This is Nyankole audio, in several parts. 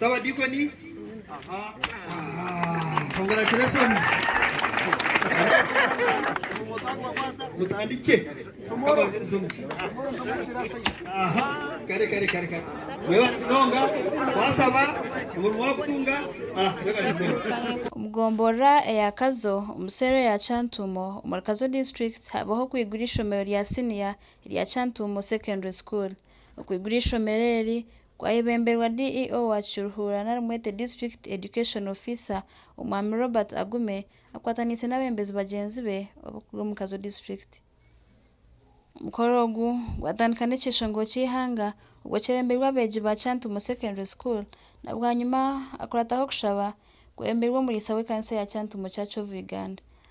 Sabadiikoni aha mutandikye abaheereza omugisha aha kare kare kare kare mwebare munonga twasaba omurimo wakutunga ah, Omugomborora eya Kazo omu seero ya Kyantuumo omuri Kazo District habaho okwigura eishomero rya siniya erya Kyantuumo Secondary School. Okwigura eishomero eri Gwayebemberwa DEO wa Kishuruhura nari mwete District Education Officer, Omwami Robert Agume akwataniise n'abembezi bagyenzi be ab'okuruga omu Kazo District. Omukoro ogu gwatandika n'ekyeshongoro ky'eihanga obwo kyebemberwe abeegi ba Kyantumo Secondary School na bwanyima akurataho okushaba kwebemberwe omuriisa w'ekanisa ya Kyantumo Church of Uganda.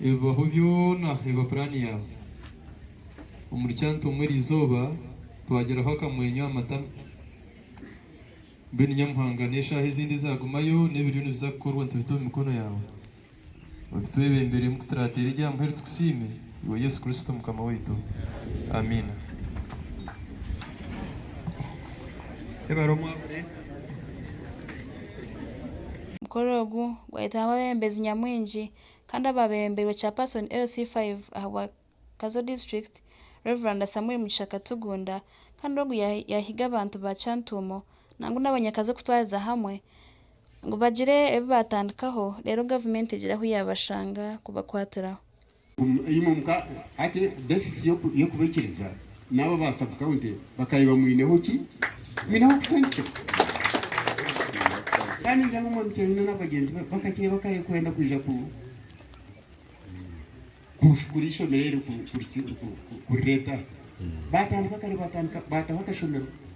Ebibaho byona eba puraani yaawe. Omuri Cantu omwe eri izooba twagiraho akamwenyo aha matama. Mbwenu Nyamuhanga n'eshaaha ezindi ezaagumayo n'ebiriyo nibiza kukorwa nitubita omu mikono yaawe. Obitwebemberemu kuturaateera ery'aha muheru tukusiime, iwe Yesu Kristo Mukama waitu. Amiina. Ebara omwabure. Omukoro ogu gwayetwamu abebembezi nyamwingi Kandi abaabereembeirwe Chairperson LC five aha bwa Kazo District, Rev. Samuel Mugisha Katugunda, kandi ogu yaahiga abantu ba Kyantuumo nangwa n'abanyakazo kutwariza hamwe ngu bagire ebi baatandikaho reero gavumenti egire ahu yaabashanga kubakwatiraho. Hati, beesisi y'okubaikiriza N'abo aba sub county bakabaire bamwineho ki? Bamwineho kushangikira. Kandi ningira ngu omwami Kyanyina na bagyenzi be bakakireba kare kwenda kwija ku kushukura eishomero eryo kurireeta aha. Baatandika kare baatandika baataho akashomero.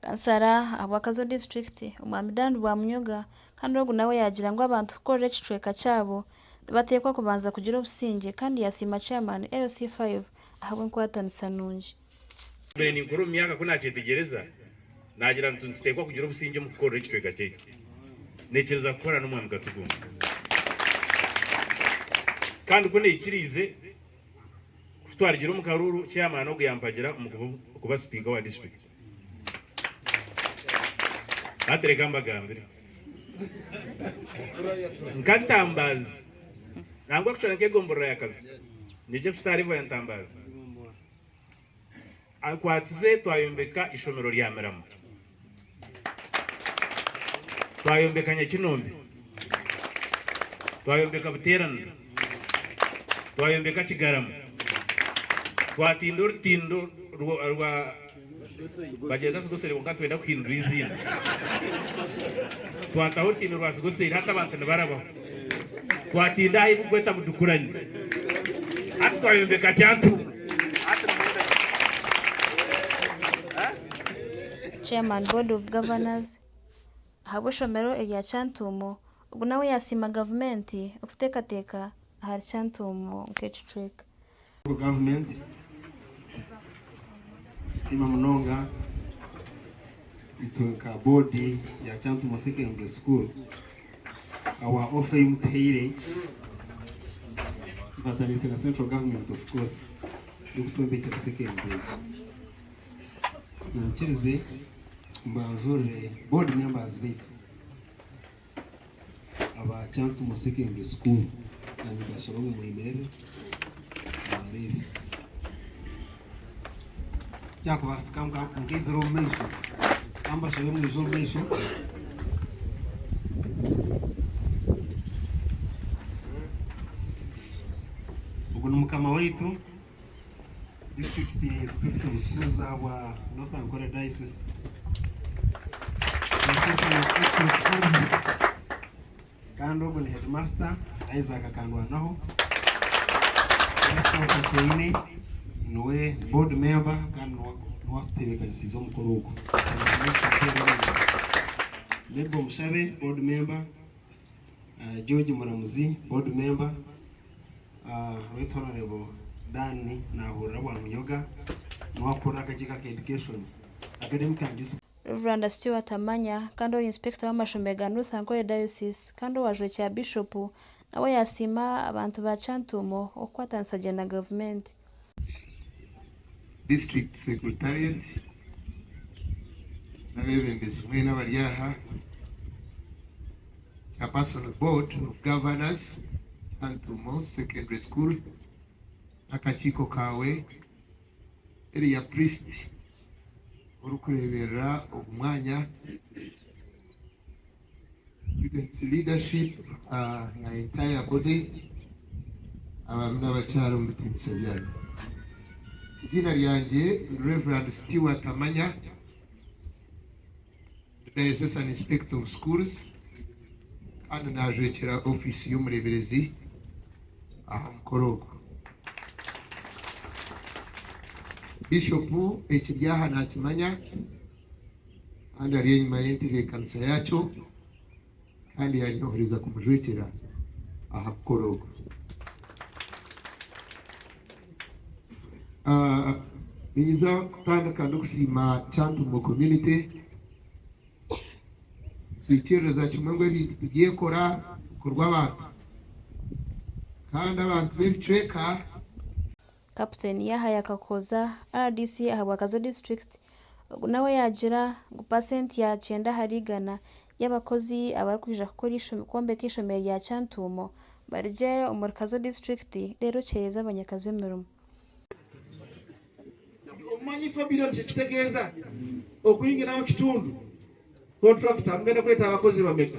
Kansara aha bwakazo disiturikiti, Omwami Dan Rwamunyoga kandi ogu nawe yaagira ngu abantu kukorera ekicweka kyabo nibateekwa kubanza kugira obusingye kandi yaasiima Chairman LC5 ahabw'enkwatanisa nungi. Naabaire ninkura omu myaka ku naakyetegyereza, naagira ntu nituteekwa kugira obusingye omu kukorera ekicweka kyaitu. Naikiriza kukora n'Omwami Katugunga kandi ku naikiriize kutwarigire omu karuuru, Chairman ogu yampagira omu kuba Sipiika wa disiturikiti. Hati reka mbagambire nka ntambaazi nangwa kucwera nk'egomborora ya kazo nikyo ekitarivo ya ntambaazi akwatize twayombeka ishomero rya mirama twayombeka nyakinombe twayombeka buteeranira Twayombeka Kigarama, twatinda orutindo rwa bagyeta Sigosori kwonka nitwenda kuhindura eiziina. Twataho orutindo rwa Sigosori hati abantu nibarabaho. Twatinda aha ei barikweta Mudukurani, hati twayombeka Kyantumba. Chairman, Board of Governors, ahabw'eishomero erya Kyantuumo Ogu nawe yasiima gavumenti okuteekateeka ahari Kyantuumu nk'ekicweka. Gavumenti nesiima munonga itwe nka boodi ya Kyantuumu secondary school ahabwa ofa ei mutuhaire tufataniise na central government of course y'okutwombekyera secondary egi. Munyikirize mbanjurire board members baitu. aba Kyantumwa Secondary School Kanyita Shalomu Mwimerere naareeba. Kyakuba ka ka nkaizire omu maisho ka mbashabe mwije omu maisho. Ogu ni mukama waitu. District Secretary of Schools ahabwa North Ankole Diocese. Kandi ogu ni Headmaster Isaac Kandwanaho. Kyeine niwe Board Member kandi niwe akutebekanisiize omukoro ogu. Mabel Mushabe Board Member. George Muramuzi, Board Member, Right Honourable Dan Nahurira Bwamunyoga niwe arikukurira akakiiko aka Education, Academic and Discipline. Rev. Stewart Amanya kandi ori Inspector w'amashomero ga North Ankole Diocese kandi owajwekye aha Bishop, nawe yasiima abantu ba Kyantuumo okukwatanisa gye na Gavumenti. District Secretariat n'abeebembezi mwena abari aha, Chairperson of Board of Governors, Nantumo Secondary School, n'akakiiko kaawe, Area Priest orikureeberera ogu mwanya, Students leadership na entire body abami nabakyara omu bitinisa byanyu. Eiziina ryangye ni Rev. Stewart Amanya, ndi Diocesan Inspector of Schools kandi najwekyera office y'omureberezi aha mukoro ogu. Bishop ekiri aha nakimanya. kandi ari enyima y'entebeekanisa yaakyo kandi yaanyohereza kumujwekyera aha mukoro ogwo. Ninyiza kutandika ndikusiima Kyantumo Community kuhikiiririza kimwe ngu ebintu tibyekora bikorwa abantu kandi abantu b'ebicweka Kapiteeni Yahaya Kakooza, rdc aha bwa Kazo District, ogu nawe yaagira ngu paasenti ya kyenda ahari igana y'abakozi abarikwija kukora kwombeka eishomero rya Kyantuumo bari gye omuri Kazo District reero kihereza abanyakazo emirimo. Obumanyi Fabiro nikyo kitegeeza okuhingiraho omu kitundu. Kontulakita mugenda kweta abakozi bameka?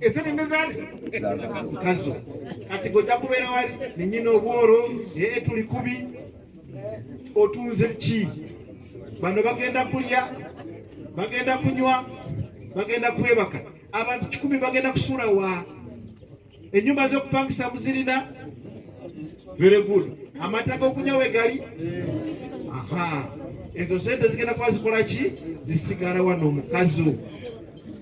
Eseenene zaaza nazo. Kati gwe takubeera wari ni nyina obworo ee turi kubi otunze biki? Bano bagenda kurya, bagenda kunywa, bagenda kwebaka. Abantu kikumi bagenda kushuura wa? Enyumba z'okupangisa muzirina? Very good. Amata g'okunywa we gari? Aha. Ezo sente zigenda kuba zikora ki? Zisigara wanu omukazo.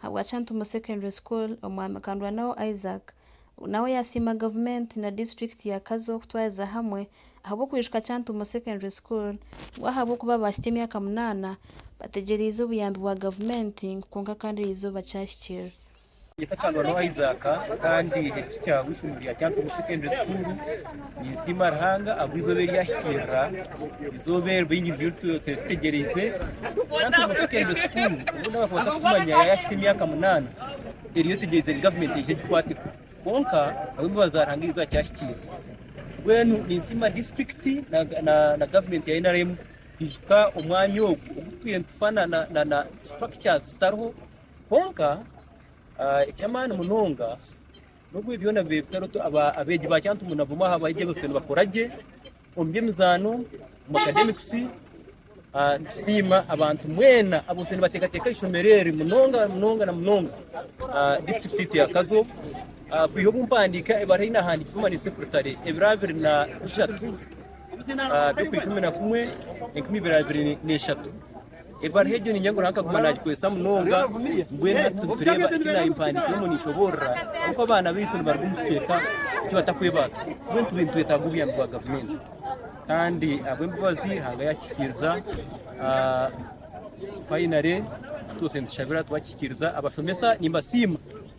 Ahabwa Kyantumo Secondary School, Omwami Kandwanaho Isaac nawe yasiima gavumenti na disiturikiti ya Kazo kutwariza hamwe ahabw'okwijuka Kyantumo Secondary School ngu ahabw'okuba baahikya emyaka munaana bategyereize obuyambi bwa gavumenti ngu kwonka kandi eri izooba kyahikirira. Nyeeta Kandwanaho Isaac kandi ekiti kya Bwifumu rya Kyantumo Secondary School. Ninsiima Ruhanga ahabwa eizooba eri ahikiirira, eizooba eri baingi niryo twese tutegyereize. Nanka omu sekendure sukuuru obu ndabakwata kutumanya yaahikya emyaka munaana, eriyo etegyereize ngu gavumenti eije egikwateko. Kwonka ahabw'embabazi za Ruhanga eizooba kyahikiire. Mbwenu ninsiima disiturikiti na gavumenti ya nrm kuhika omwanya ogu ogu twine tufa na structures zitariho. Kwonka ah, eky'amaani munonga, N'obu ebi byona bibaire bitarooto, abeegi ba Kyantungu na bamwe aha baegi abasyo nibakora gye omu by'emizaano, omu akademikisi. Nitusiima abantu mwena abasyo nibateekateeka aha ishomero eri munonga munonga na munonga disiturikiti eitu ya Kazo kwiha obu mpandiika ebara ei naahandiikire omu Maniitsi Sepuritare ebiro abiri na bishatu by'okwa ikumi na kumwe enkumi ibiri abiri na ishatu. Ebaruha egyo ninyegura hakaguma nagikoresa munonga mbwenu hati nitureeba eki naayimpandiikire omu ninshoboorora oku abaana baitu nibaruga omu bicweka eki batakwebaasa mbwenu tube nitwetaaga obuyambi bwa gavumenti kandi ahabw'embabazi hanga yakikiiriza fayinale twose nitushabira twakikiiriza abashomesa nimbasiima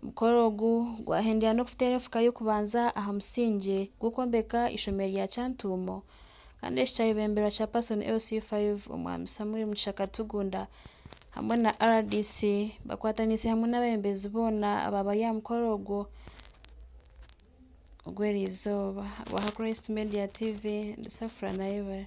Omukoro ogu gwahendera n'okuteera enfuka y'okubanza aha musingye gw'okwombeka eishomero rya Kyantuumo kandi eki kyayebemberwa Chairperson LC5 Omwami Samuel Mugisha Katugunda hamwe na rdc bakwataniise hamwe n'abebembezi boona abaabari aha mukoro ogwo ogw'erizooba. Owa Christ Media TV ndi Safra Nayebare.